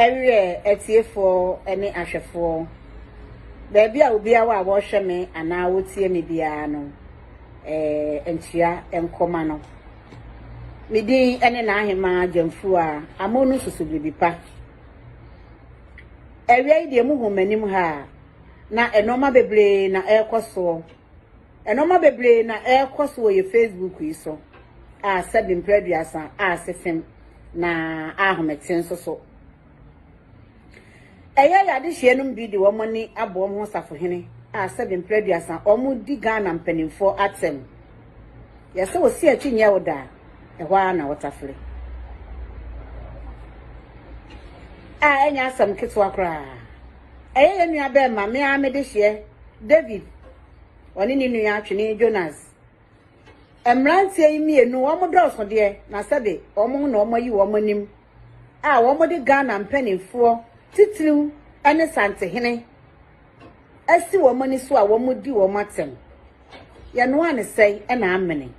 Ɛreɛ atiefoɔ ne ahwɛfoɔ. Baabi a obiara wɔ a wɔhwɛ me anaa wɔtie me biara no, eh, ntua nkɔma no. Me din ne n'ahemaa Gyamfuru a amo no susu biribi pa. Awia yi deɛ muhu m'anim ha a, na nnoɔma bebree na ɛrekɔ soɔ. Nnoɔma bebree na ɛrekɔ so wɔ yɛ Facebook yi so a sɛbi mprɛ aduasa a sesem na ahomete nso so. Ɛyɛ yɛ adehyeɛ nom bi de wɔn ani abɔ wɔn ho safohene a sɛbi mprɛ aduasa wɔn di Ghana mpanimfoɔ atɛm. Yɛsɛ wɔsi akyi nyɛ wo da a, ɛhɔ ara na wɔtafere. A ɛnyɛ asɛm ketewa koraa. Ɛyɛ yɛn nuabarima, me ara me dehyeɛ, David, ɔne ne nua atwenee Jonas. Mmeranteɛ yi mmienu, wɔn dɔɔso deɛ, na sɛbe wɔn ho na wɔn ayi wɔn anim a wɔde Ghana mpanimfoɔ titiriw ne Santehene asi wɔn ani so a wɔdi wɔn atɛm. Yɛnoaa no sɛe na amene.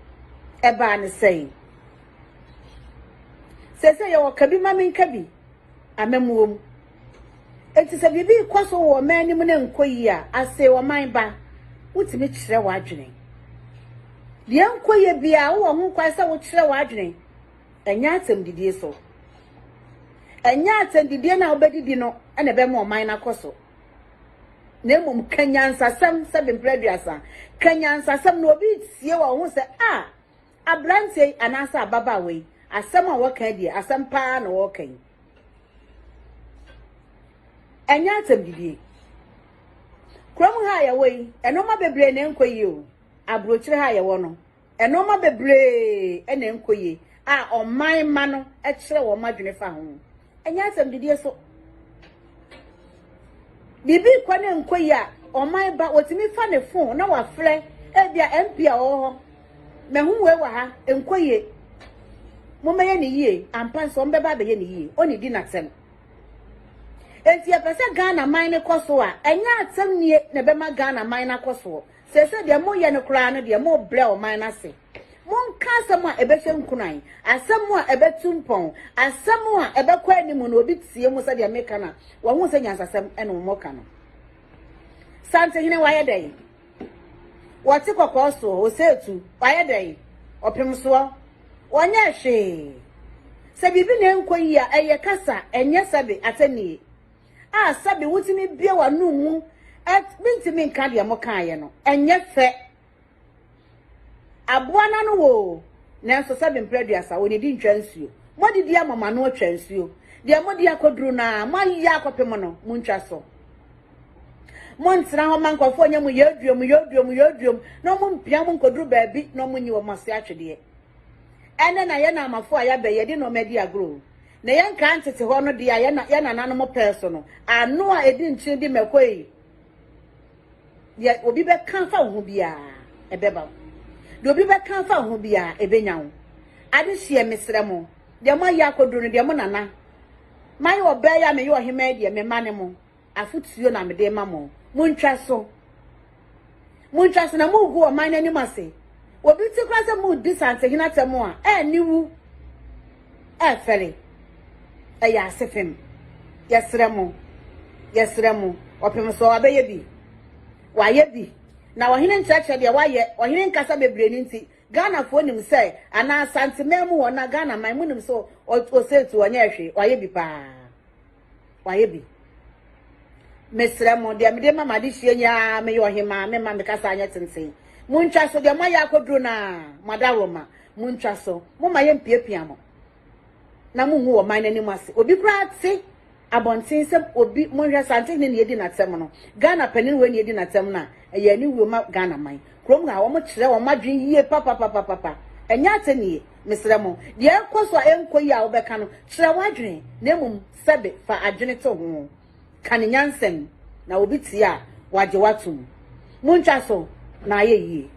Ɛbaa no sɛe. Seesei yɛwɔ Kabi ma menka bi, amammuo mu. Enti sɛ biribi rekɔ so wɔ ɔman no mu na ɛnkɔ yie a, asee ɔman ba, wotumi kyerɛ w'adwene. Deɛ ɛnkɔ yie biara, wowɔ ho kwan sɛ wokyerɛ w'adwene. Ɛnyɛ atɛmdidie so. Ɛnyɛ atɛmdidie no a wobɛdidi no na ɛbɛma ɔman no akɔ so. Na mmom, ka nyansasɛm sɛ bemprɛ aduasa. Ka nyansasɛm na obi retie wɔ ho sɛ, ah! Aberanteɛ yi anaasɛ ababaawa yi, asɛm a wɔka yi deɛ, asɛm pa ara na wɔreka yi. Ɛnyɛ asɛm didie. Kurom ha a yɛwɔ yi, nneɛma bebree na ɛnkɔ yie o. Aburokyire ha a yɛwɔ no, nneɛma bebree na ɛnkɔ yie a ɔman mma no kyerɛ wɔn adwene fa ho. Ɛnyɛ asɛmdidie so. Biribi rekɔ ne nkɔ yi a, ɔman ba, wɔtumi fa ne phone na wafrɛ ebia MP a ɔwɔ hɔ. Mahu wei wɔ ha, ɛnkɔ yie. Mommɛyɛ ne yie, ampa nso wɔbɛba abɛyɛ ne yie. Ɔnnidi n'asɛm. Enti yɛpɛ sɛ Ghana man no kɔ so a, ɛnyɛ asɛm nie na ɛbɛma Ghana man no akɔ soɔ. Seesei deɛ moyɛ no koraa no deɛ, mobrɛ ɔman no ase. Monka asɛm a ɛbɛhyɛ nkuran, asɛm a ɛbɛtu mpɔn, asɛm a ɛbɛkɔ anim na obi tie mo sɛdeɛ meka no a, wahu sɛ nyansasɛm na wɔka no. Santehene wayɛ dɛn? Wɔte kɔkɔɔ soɔ, oseetu, wayɛ dɛn? Ɔpem soɔ, wɔnyɛ hwee. Sɛ biribi na ɛnkɔ yie a, ɛyɛ kasa, ɛnyɛ sɛbe atɛnnie. A sɛbe wotumi bue w'anom mu, mentumi nka deɛ mokaeɛ no, ɛnyɛ fɛ. Aboa no ano wɔ oo, nanso sɛ bemprɛ aduasa wɔ n'adi ntwa nsuo. Moadidi ama mo ano atwa nsuo, deɛ mode akɔduru no ara moayɛ akɔpem no, montwa so. Montena hɔ mma nkurɔfoɔ nyɛ mo yɛaduom, yɛaduom, yɛaduom na wɔmpia mo nkɔduru baabi na wɔnyi wɔn ase atwedeɛ. Ɛnɛ na yɛn amafoɔ a yɛabɛ yɛde nneɛma adi agorɔ oo, na yɛn nkaa ntete hɔ no deɛ a yɛn nananom pɛɛ so no, ano a ɛdi nkyene di mmɛkɔ ei. Deɛ obi bɛka afa wo ho biara, ɛbɛba wo. Deɛ obi bɛka afa wo ho biara, ɛbɛnya wo. Adehyeɛ, mesrɛ mo, deɛ moayɛ akɔduru no, deɛ mo nana, mayɛ ɔbaa yi a meyɛ ɔhemmaa yi deɛ, me mma ne mo, afotuo na mede rema mo. Montwa so. Montwa so na mogu ɔman no anim ase. Obi te koraa sɛ moredi Santehene atɛm a, ɛɛ ne wu. ɛɛfɛre, ɛyɛ ase fem. Yɛsrɛ mo, yɛsrɛ mo, ɔpem sɛ ɔabɛyɛ bi. Wayɛ bi. Na ɔhene nkyerɛkyerɛ deɛ wayɛ, ɔhene nkasa bebree no nti, Ghanafoɔ nim sɛ, anaa Asanteman mu hɔ, anaa Ghanaman, monim sɛ ɔsɛɛtu, ɔnyɛɛ hwee, wayɛ bi paa. wayɛ bi mesrɛ mo deɛ mede ma made sua nyaa meyɛ ɔhemaa me ma mekasa anyɛ tenten montwa so deɛ moayɛ akɔduro no a moada roma montwa so moma yɛmpiapia mo na monhu wɔ man no anim ase obi koraa te abɔnten sɛ obi monhwɛ sante hene ne ɛdi n'atɛm no ghana panin wei ne ɛdi n'atɛm no a ɛyɛ ne wuo ma ghana man kurom ha wɔn kyerɛ wɔn adwene yie papapapapa ɛnyɛ atɛnie Mesrɛ mo, deɛ ɛrekɔ so a ɛnkɔ yie a wobɛka no, kyerɛ w'adwene, na mmom sɛbe fa adwene to ho. Ka no nyansam, na obi tie a, wagye wo atom. Montwa so, na ayɛ yie.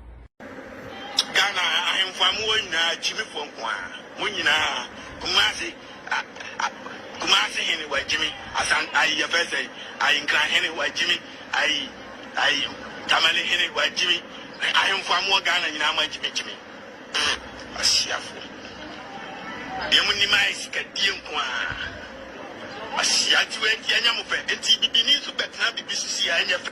Ghana ahemfo a mowɔ nyinaa agyimifoɔ nko ara mo nyinaa Kumasi Kumasi hene wagyimi Asan ayi Yɛfɛsɛyi ayi Nkran hene wagyimi ayi ayi Tamale hene wagyimi ahemfo a mowɔ Ghana nyinaa mo agyimi gyimi Ee, Asiafo, bia mo nim ayɛ sika die nko ara. Asia nti wei nti ɛnyɛ mo fɛ, nti bibini nso bɛtena bibi so si a ɛnyɛ fɛ.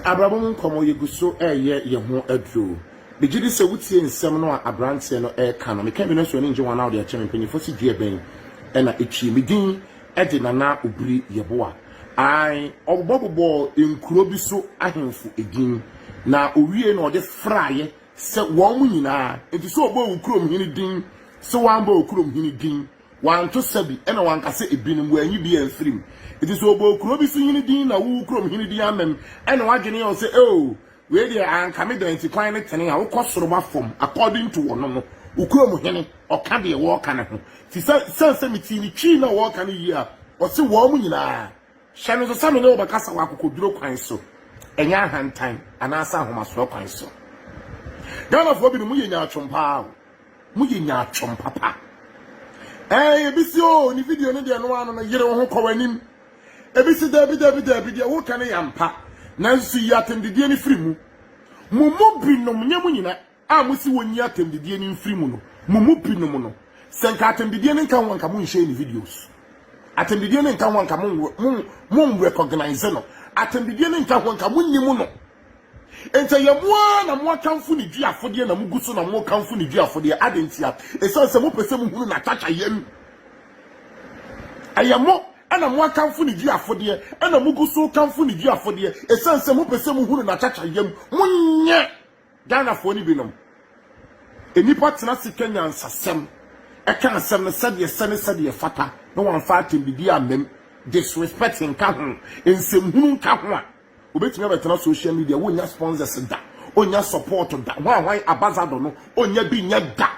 Abrabɔ mu nkɔmmɔ, Yɛgu so reyɛ yɛn ho aduro. Megye di sɛ wotie nsɛm no a aberanteɛ no reka no. Meka bi no nso, w'ani nnye ho anaa wode akyɛ me? Mpanimfoɔ se dua bɛn na ɛtwi? Me din Ɛde Nana Obiri Yeboah I ɔbobɔbobɔɔ nkuro bi so ahemfo edin, na owiei na ɔde fraeɛ sɛ wɔn nyinaa nti sɛ ɔbɔɔ wo kurom hene din, sɛ wambɔ wo kurom hene din, wanto sabi, ɛna wanka sɛ ebinom, wanyi bi amfiri mu. Nti sɛ ɔbɔɔ kuro bi so hene din na wo kurom hene din ammam, ɛna wadwene yɛ wo sɛ, eoo, Wei deɛ anka me dɛn nti kwan ne tene a wokɔ soro ba fam according to ɔno no wo kurom hene ɔka deɛ wɔɔka ne ho ti sɛ sane sɛ me tii ne twii na wɔɔka no yie a ɔse wɔɔmo nyinaa hyɛ no nso sɛ me ne wo bɛkasa wɔ akokoduro kwan so ɛnyɛ ahantan anaasɛ ahomasoɔ kwan so Ghanafoɔ binom mo yɛ nyaatwom paa o mo yɛ nyaatwom papa ɛɛ yɛbisi o ne video no deɛ no ano no yere wo ho kɔ w'anim Ebi se, Dabi, dabi, dabi, deɛ woreka no yɛ ampa, nanso yi atɛmdidie no firi mu. Mo mu binom, nyɛ mo nyina, a mose wɔnyi atɛmdidie no mfiri mu no, mo mu binom no, sɛ nka atɛmdidie no nka ho a nka monhyɛɛ ne videos. Atɛmdidie no nka ho a nka monnrecognise no. Atɛmdidie no nka ho a nka monnim no. Enti ɛyɛ mo ara na moakamfo ne dwi afodeɛ na mogu so na mokamfo ne dwi afodeɛ. Adɛn ntia? Ɛsiane sɛ mopɛ sɛ mohunu n'atakyayam. Ɛyɛ mo na moakamfo ne dwi afodeɛ na mogu so kamfo ne dwi afodeɛ ɛsiane sɛ mopɛ sɛ mohunu n'atakyayam. Monyɛ Ghanafoɔ no binom. Nnipa tena ase ka nyansasɛm, ɛka asɛm no sɛdeɛ ɛsɛ ne sɛdeɛ ɛfata na wɔamfa atɛmdidie ammam, disrespect nka ho, nsɛmhunu nka ho a, Obetumi abɛtena social media wonnya sponsors da, onnya support da, hwan hwan abazado no onnya bi nyɛ da.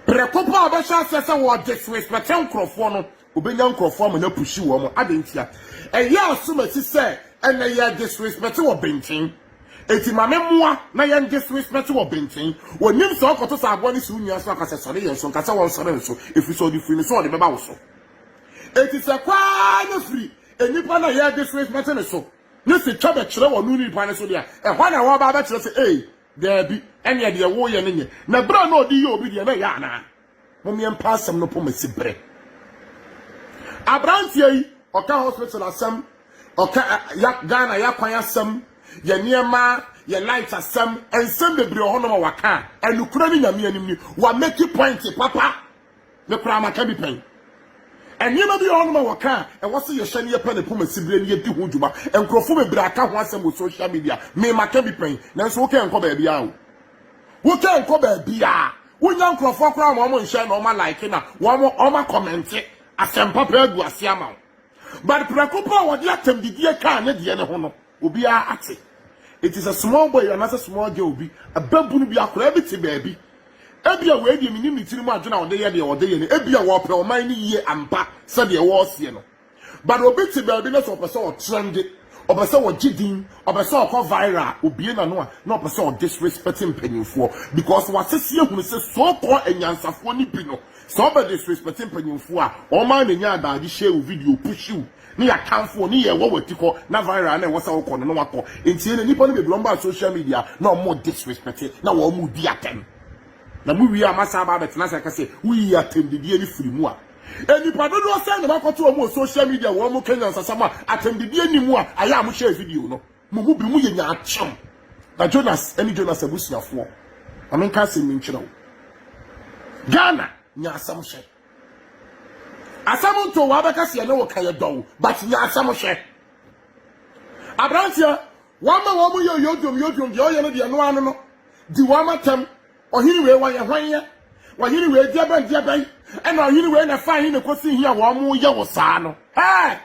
Prɛko pɛ a ɔbɛhyɛ aseɛ sɛ wɔ disrespect nkurɔfoɔ no, obenya nkurɔfoɔ ama no apushi wɔn. Adɛn ntia? Ɛyɛ asomasi sɛ ɛnɛ yɛ disrespect wɔ benten. Enti ma me mmoa na yɛn disrespect wɔ benten. Onim sɛ ɔkɔto sɛ aboa no si wo nua so a ka sɛ sɔre yɛn so, nka sɛ wɔnsɔre nso, ɛfiri sɛ ɔde firi ne so a ɔde bɛba wo so. Enti sɛ kɔ ara na firi nnipa no a yɛde so mɛte ne so ne se twa bɛkyerɛ wɔn no nnipa no so de a, ɛhɔ ara na wɔba abɛkyerɛ sɛ, Ei, daabi, ɛnneɛ deɛ woreyɛ no nyɛ, na berɛ a na ɔde yɛ obi deɛ na ɛyɛ anaa? Mommeɛ mpa asɛm no poma si bere. Aberanteɛ yi, ɔka hospital asɛm, ɔka Ghana yɛakwan asɛm, yɛ nneɛma, yɛ light asɛm, nsɛm bebree wɔ hɔnom a waka a, ɛnokorɛ ne Nyame anim ni, wamaki point papa Me koraa maka bi pɛn. Nneɛma bi wɔ hɔnom a wɔka a, ɛwɔ sɛ yɛhyɛ ne yɛpɛ ne poma siberɛ ne yɛdi ho dwuma. Nkurɔfoɔ bebree aka ho asɛm wɔ social media. Me maka bi pɛn. Nanso wo kɛ nkɔ baabiara o. Wo kɛ nkɔ baabiara. Wonya nkurɔfoɔ koraa ma wɔn nhyɛ na wɔn alike na wɔn wɔn akɔmɛnte asɛm papa agu aseɛ ama wo. But prɛko pɛ a wɔde atɛmdidie kaa ne deɛ ne ho no, Obiara ate. Enti sɛ small boy bi anaasɛ small girl bi, babunu bi, akwadaa bi te baabi, ebia wei deɛ mennim ne tirim adwene a ɔde yɛ deɛ ɔde yɛ no, ebia ɔrepɛ ɔman no yie ampa sɛdeɛ wɔreseɛ no. But obi te baabi na sɛ ɔpɛ sɛ ɔtrɛnde, ɔpɛ sɛ ɔgye din, ɔpɛ sɛ ɔkɔ viral a, obue n'ano a, na ɔpɛ sɛ ɔdisrespect mpanimfoɔ. Because wɔasese ahunu sɛ so called anyansafoɔ no bi no, sɛ ɔbɛdisrespect mpanimfoɔ a, wɔn ara na ɛnya adagyehyɛ wo video, push wo. Ne yɛ atamfo o ne yɛ wɔ wati kɔ na viral a na ɛwɔ sɛ wo kɔ no na wakɔ ntie no nipa no bebree ɔmo baa social media na ɔmo disrespecte na wɔ ɔmo di atɛm na mo wie a ma saa baa bɛtena sɛ kɛse wo yi atɛm didie ne firi mu a enipa dodoɔ sɛn na wakɔto ɔmo wɔ social media wɔ ɔmo kenya nsasam a atɛm didie ni mu a ayɛ a mo share video no mo mu bi mo yɛ nya akyɛm na Jonas ɛne Jonas abusuafoɔ na menka asɛm mi nkyerɛ wo Ghana nya asɛm hyɛ. Asɛm nto wo abɛka sɛ yɛne wo ka yɛdɔ wo but nya asɛm hwɛ. Abranteɛ wama wɔn mo yɛ yodwom yodwom deɛ ɔyɛ no deɛ no ano no di wɔn atɛm ɔhene wei wɔyɛ hwan yɛ ɔhene wei deɛ bɛn deɛ bɛn ɛna ɔhene wei na ɛfa he na ɛkɔsi he a wɔn mo yɛ wo saa no hey!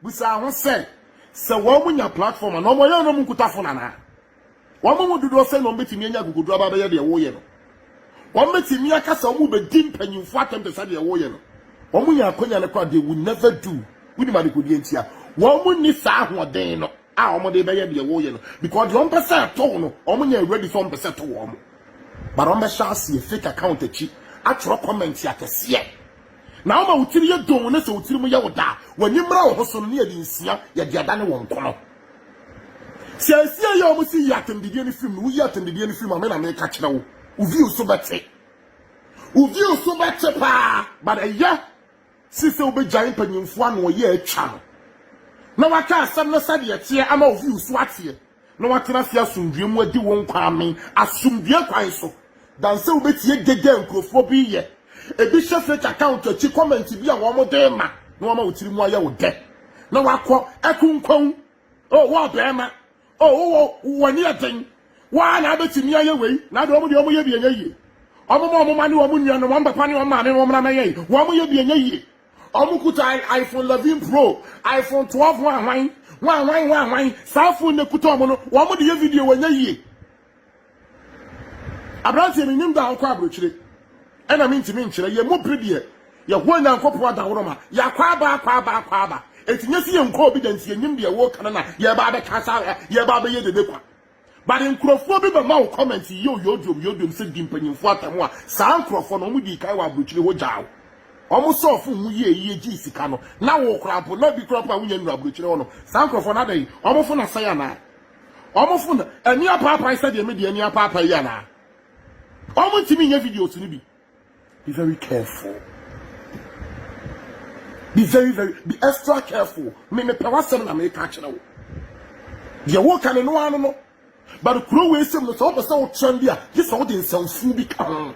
Bisaa ho sɛ, Sɛ wɔnya platform a, na wɔyɛ no na wɔnkuta fon anaa? Wɔn mu dodoɔ sɛn na wɔbɛtumi anya akokoɔduro aba abɛyɛ deɛ woreyɛ no? Wɔbɛtumi aka sɛ wɔbɛdi mpanimfoɔ atɛm te sɛ deɛ woreyɛ no? Wɔnya akwanya no koraa, they will never do. Wonim adekodeɛ nti a? Wɔnni saa ahoɔden no a wɔde rebɛyɛ deɛ woreyɛ no because deɛ wɔpɛ sɛ ɛto wo no, wɔnyɛ ready sɛ wɔpɛ sɛ ɛto wɔn. But wɔbɛhyɛ aseɛ fake account akyi atwerɛ comment akɛseɛ. Na woma wo tiri yɛ doo na sɛ wo tirim yɛ wo dɛ a, w'ani mmra wo ho so no, na yɛde nsia yɛ de adane wo nkono. Seesei yi a wɔsi yi atɛmdidie no firim no, woyi atɛmdidie no firim a, me na meka kyerɛ wo, wo view so bɛte. Wo view so bɛte paa, but ɛyɛ si sɛ wobɛgyae mpanyimfoɔ ano ɔyɛ atwa no, na woaka asɛm no sɛdeɛ ɛteɛ ama wo view so ateɛ. na wɔatena ase asomdwoe mu adi wo nkwa amee asomdwoe kwan so. Dan sɛ wubetie dede a nkurɔfoɔ bi reyɛ. Ebi hyɛ fake account akyi comment bi a wɔde rema na wama wo tirim ayɛ wo dɛ, na woakɔ akunkwawu. Oh, wo ɔbarima, oh, wowɔ wo ani yɛ den, wo ara na wubetumi ayɛ wei, na deɛ wɔn deɛ wɔyɛ bi nyɛ yie. Wɔma wɔn mma ne wɔn nuanom, wɔn papa ne wɔn maame, wɔmmra mmɛyɛ yi, wɔyɛ bi nyɛ yie. Ɔmo kuta iPhone 11 pro, iPhone 12 ho ahwan, ho ahwan, ho ahwan. Saa phone na kuta ɔmo no, wɔn de yɛ video wɔnyɛ yie. Aberanteɛ menim da a ɔkɔ aburokyire, ɛna mentumi nkyerɛ, yɛn mu bi deɛ yɛhoa Nyankopɔn adaworoma, yɛakɔ aba, akɔ aba, akɔ aba, eti nyɛ sɛ yɛnkɔɔ bi da nti yɛnnim deɛ wɔreka no na yɛreba abɛka saa, yɛreba abɛyɛ dede kwa. But nkurɔfoɔ bi bɛma wo comment yio yodwom yodwom sɛ di mpanyinfoɔ atɛm a, saa nkurɔfoɔ no wɔn dii kan wɔ abrokyire hɔ gyaa wo. Wɔn sɔɔ fon mu yie yie gyee sika no, na wo koraa mpo na bi koraa mpo a wonya nnuru abrokyire hɔ nom. Saa nkurɔfoɔ no adɛn? Wɔn fon asɛe anaa? Wɔn fon ani apaapae sɛdeɛ me deɛ ani apaapae yi anaa? Wɔn ntumi nyɛ videos no bi. Be very careful. Be very, very, be extra careful. Me me pɛ w'asɛm na meka kyerɛ wo. Deɛ woka ne no ano no. But kuro wei sɛm no sɛ wopɛ sɛ wotrɛn bi a, gye sɛ wode nsɛmfo bi ka ho.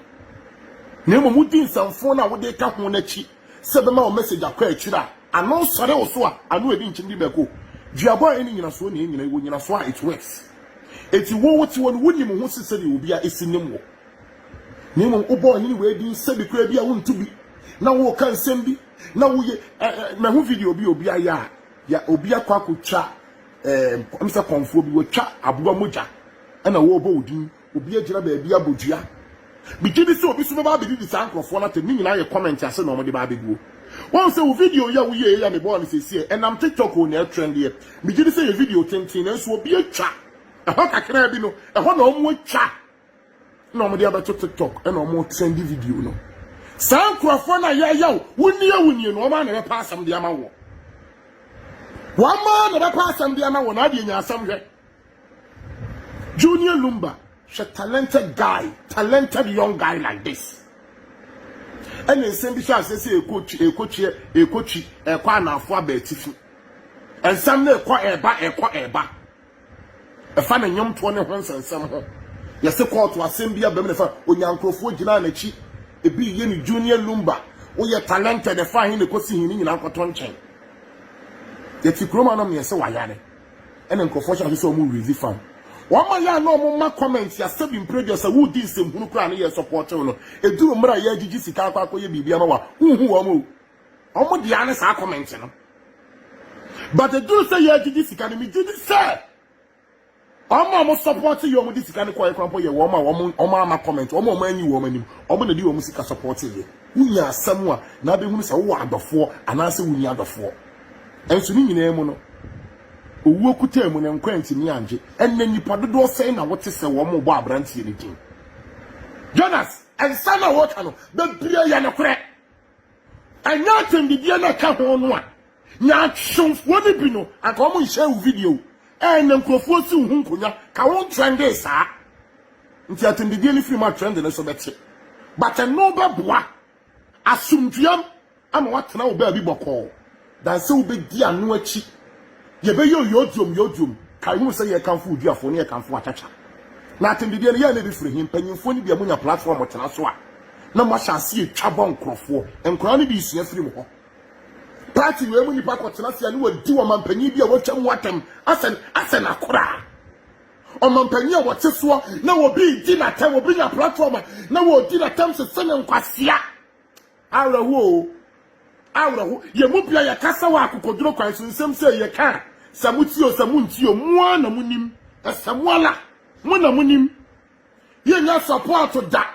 Na mmom wodi nsɛmfo no a wode ka ho no akyi sɛ bɛma wo message akɔ akyiri a, ano sɔre wo so a, ano adi nkyem de bɛko. Duabɔ a ɛne nyinasoɔ na ɛnyina, ɛwɔ nyinasoɔ a it works. Eti wo wote hɔ no wonim ho se sɛdeɛ obi a esi nim wo. na mmom wobɔ ɔhene wei din sɛbi koraa bi a wonto bi na woka nsɛm bi na woyɛ mahu video bi obi ayɛ a ya obi akɔ akɔtwa ɛɛ msɛ kɔnfoɔ bi wɔtwa aboa mogya ɛna wɔrebɔ wo din obi agyina baabi abɔ dua megye di sɛ obi so bɛba abɛdidi saa nkurɔfoɔ no atɛm ne nyinaa yɛ comment ase na wɔde ba abɛguo wɔn sɛ wo video yi a woyɛ yɛ a mebɔɔ no sɛsie ɛnam tiktok o na ɛtrendeɛ megye di sɛ yɛ video tenten nanso obi atwa ɛhɔ kakraa bi no ɛhɔ na wɔn atwa na wɔn de abɛto tiktok ɛna wɔn trendi video no saa nkurɔfoɔ na yɛyaw wunie wunie no wɔn a na bɛpa asɛm de ama wɔ wɔn a na bɛpa asɛm de ama wɔ na adeɛ nya asɛm hwɛ junior lumba hwɛ talented guy talented young guy like this ɛna nsɛm bi so asɛ sɛ ekotwi ekotwi ekotwi ɛkɔ anafo aba atifi nsɛm na ɛkɔ ɛba ɛkɔ ɛba. Ɛfa ne nnwomtoɔ ne ho nsɛnsɛm ho. Yɛse kɔɔto asɛm bi abam na ɛfa Onyaa nkurɔfoɔ gyinaa n'akyi. Ebi reyɛ no Junior Lumba, woyɛ talented ɛfa he na ɛkɔsi he ne nyinaa nkɔto nkyɛn. Yɛte kurom anom na yɛse wayare ɛna nkurɔfoɔ hyɛ ase sɛ wɔn rezi fam. Wɔn a yɛ a na wɔn ma comment a sɛbi mprɛdua sɛ woredi nsɛmhunu koraa ne yɛ supporte wo no, ɛduru mmerɛ a yɛregyegye sika akɔ akɔyɛ biribi ama wo a, wonhu wɔn o. Ɔmo de ara ne saa comment no. But eduru sɛ yɛgyegye sika no, megye di sɛ wɔn a wɔn support yɛ wɔn de sika no kɔɛ kora mpo yɛ wɔn a wɔn wɔn ama comment wɔn a wɔn anyi wɔn anim wɔn na de wɔn sika support yɛ wonya asɛm a na abɛhunu sɛ wowɔ adɔfoɔ anaasɛ wonni adɔfoɔ nso ne nyinaa mu no owuo kutaa mu na nkwa ntumi angye ɛnna nipa dodoɔ sɛn na wote sɛ wɔn bɔ aberanteɛ no din Jonas nsa na wɔka no bebree yɛ nokorɛ. Ɛnyɛ atɛndibea na ɛka ho no a, nya asomfoɔ no bi no, anka wɔn nhyɛɛ wo video ɛɛ na nkurɔfoɔ si wo ho nkonya ka wo ntrɛndee saa. Nti atɛndibea no firi mu a trend no nso bɛte. But ɛno bɛboa asomdweam ama woatena wo baabi bɔkɔɔ. Dan sɛ wobɛdi ano akyi. Yɛbɛyɛ oyoduom yoduom. Kae hunu sɛ yɛrekamfo Oduafoɔ ne yɛrekamfo Achacha. Na atɛmdedeɛ no, yɛn na ɛbɛfiri he? Mpanyimfoɔ no bia monya platform motena so a, na moahyɛ aseɛ twa bɔ nkorɔfoɔ. Nkwadaa no bi sua firi mo hɔ. Party wei mu nnipa kɔtena ase a ne wɔdi ɔmampanyin bi a watwa mu atɛm asɛ asɛ n'akora. Ɔmampanyin a wɔte soɔ na obi redi n'atɛm, obi nya platform a na wɔredi n'atɛm sese ne nkwasea. Awerɛhoɔ o, awerɛho. Yɛn mu pii a yɛkasa wɔ akokoduro kwan so nsɛm sei yɛka a, sɛ motie o, sɛ montie o, mo ara na monim. Ɛsɛ mo ara, mo na monim. Yɛnnya sɔpɔɔto da.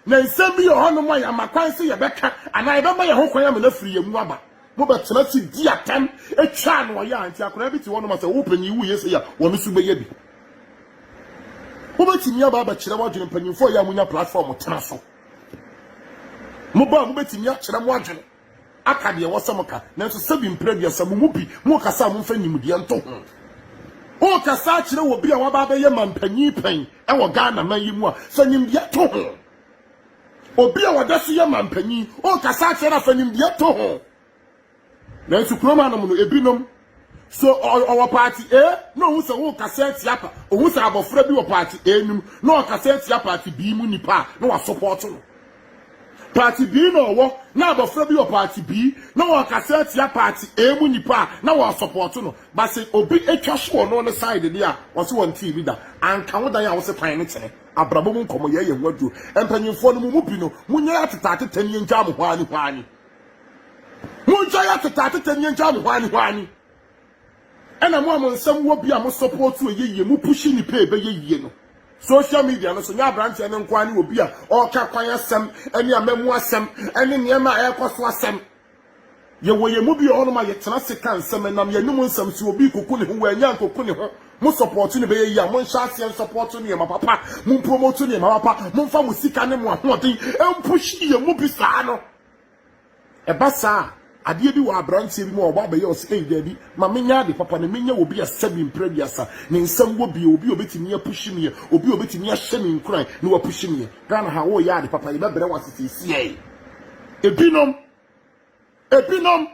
Na nsɛm bi wɔ hɔnom a yɛama kwan sɛ yɛbɛka anaa yɛbɛma yɛn ho kwan ama no afiri yɛn mu aba. Mobɛtena ase di atɛm atwa ano ayɛ a, nti akwadaa bi te hɔnom a sɛ wo panin wuiɛ sei a, wɔn nso bɛyɛ bi. Wobɛtumi aba abɛkyerɛ w'adwene, mpanimfoɔ a ɛyɛ a monya platform tena so. Mo baa mu betumi akyerɛ mo adwene, aka deɛ ɛwɔ sɛ moka, nanso sɛbi mpere aduasa, mo mu pi, morekasa a momfa nimdeɛ nto ho. Worekasa akyerɛ obi a waba abɛyɛ mampanyin pɛn wɔ Ghana man yi mu a, fa nimdeɛ to ho. Obi a ɔda so yɛ mampanyin, worekasa akyerɛ no a, fa nimdeɛ to ho. Nanso kurom anom no, ebinom so ɔwɔ paati A na ohun sɛ wokasa atia pa, ohun sɛ abɔfra bi wɔ paati A no mu na ɔkasa atia paati B mu nipa a na wasopɔɔto no. Paati B na ɔwɔ na abɔfra bi wɔ paati B na ɔkasa atia paati A mu nipa a na wɔasopɔɔto no. Ba sɛ obi atwa so wɔ no ne side deɛ a, wɔse wɔntee bi da. Anka wo dan a wose kwan no kyene. Abrabɔ mu nkɔmmɔyɛ yɛ ho aduro. Mpanyimfoɔ no, mo mu bi no, monyɛ atetaatetani ngyaa mo hwaani hwaani. Monhwɛ yɛ atete atete nyɛ gya mo hwaani hwaani. Ɛna mo a mo nsɛm wɔ bi a mo support ɛyɛ yie, mo push nnipa a ɛbɛyɛ yie no. Social media no so nyɛ abranteɛ no nko ara ne obi a ɔreka kwan asɛm ɛne amamu asɛm ɛne nneɛma a ɛrekɔ so asɛm. Yɛwɔ yɛn mu bi wɔ hɔnom a yɛtena ase ka nsɛm, ɛnam yɛn anom nsɛm so, obi rekɔku ne ho, wannya ankɔku ne ho. Mo support no bɛyɛ yie a, monhyɛ aseɛ nsupport nneɛma papa, mo mpromote nneɛma papa, momfa mo sika ne mo ahoɔden mpush yɛn mu bi saa no. Ɛba saa a, adeɛ bi wɔ aberanteɛ bi mu a ɔbɔ abɛyɛ ɔse, Ei, daabi, ma menyɛ ade papa na menya obi a sɛbi mprɛ aduasa ne nsɛm wɔ bio, obi a ɔbɛtumi apushi meɛ, obi a ɔbɛtumi ahyɛ me nkuran na wapushi meɛ. Ghana ha, woreyɛ ade papa, yɛbɛbrɛ wo ase seesei. Ebinom, ebinom,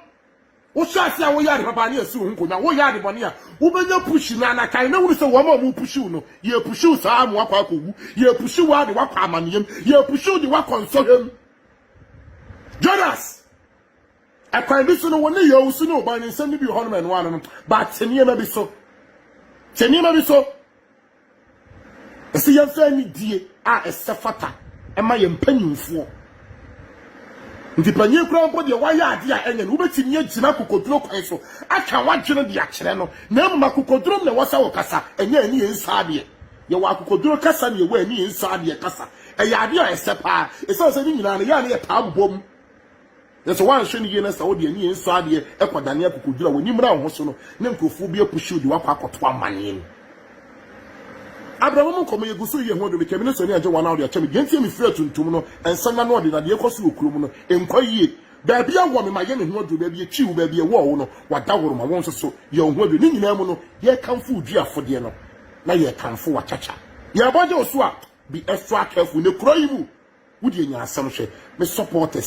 wohyɛ ase a woyɛ ade papa ne yɛsi wo ho nkonnwa, woyɛ ade bɔne a, wobɛnya pushi no ana? Kae na hunu sɛ wɔn a wɔrepushi wo no, yɛrepushi wo saa ara ma woakɔ akɔwu, yɛrepushi wo ara de woakɔ amanneɛm, yɛrepushi wo de woakɔ nsɔhwɛ mu. Jonas, ɛkwan bi so no, wɔne yɛ owusu ne ɔban ne nsɛm no bi wɔ hɔnom ɛnoa no no, ba te nneɛma bi so. Te nneɛma bi so. Ɛsɛ yɛmfa anidie a ɛsɛ fata ɛma yɛn mpanyinfoɔ. Nti panyin koraa mpo deɛ wayɛ adeɛ a ɛnyɛ no, wobɛtumi agyina akokoduro kwan so aka wadwene de akyerɛ no, na mmom akokoduro mu na ɛwɔ sɛ wokasa, ɛnyɛ ɛne yɛn nsa adeɛ. Yɛwɔ akokoduru kasa ne yɛwɔ ani nsɔ adeɛ kasa. Ɛyɛ adeɛ a ɛsɛ paa. Ɛsiane sɛ ne nyinaa no, ɛyɛ a na yɛtaa bobɔ mu. Nanso woanhwɛ no yie na sɛ wode ani nsɔ adeɛ kɔdane akokoduru a w'ani mmra wo ho so no, na nkurɔfoɔ bi apushi wo de wo akɔ akɔto amanneɛ mu. Abraham mu nkɔmmɔ, Yɛgu so reyɛ ho adwuma. Meka me ne Sonny agye wɔn a wɔde akyɛ me. Deɛ enti a mefiri atuntum no, nsɛmma ne ɔde, na deɛ ɛrekɔ so wɔ kurom no, ɛnkɔ yie. Baabi a wowɔ no, ma yɛ ne ho adwuma. Baabi a ɛtwii wo, baabi a ɛwɔɔ wo no, wadahoro. Ma wo nso so, yɛ wo ho adwuma. Ne nyinaa mu no, yɛrekamfo wo duafodeɛ no. na yɛ kamfo wa kyakya yɛ bɔgye osu a be extra careful ne kuro yi mu wo deɛ nya asɛm hwɛ me supporters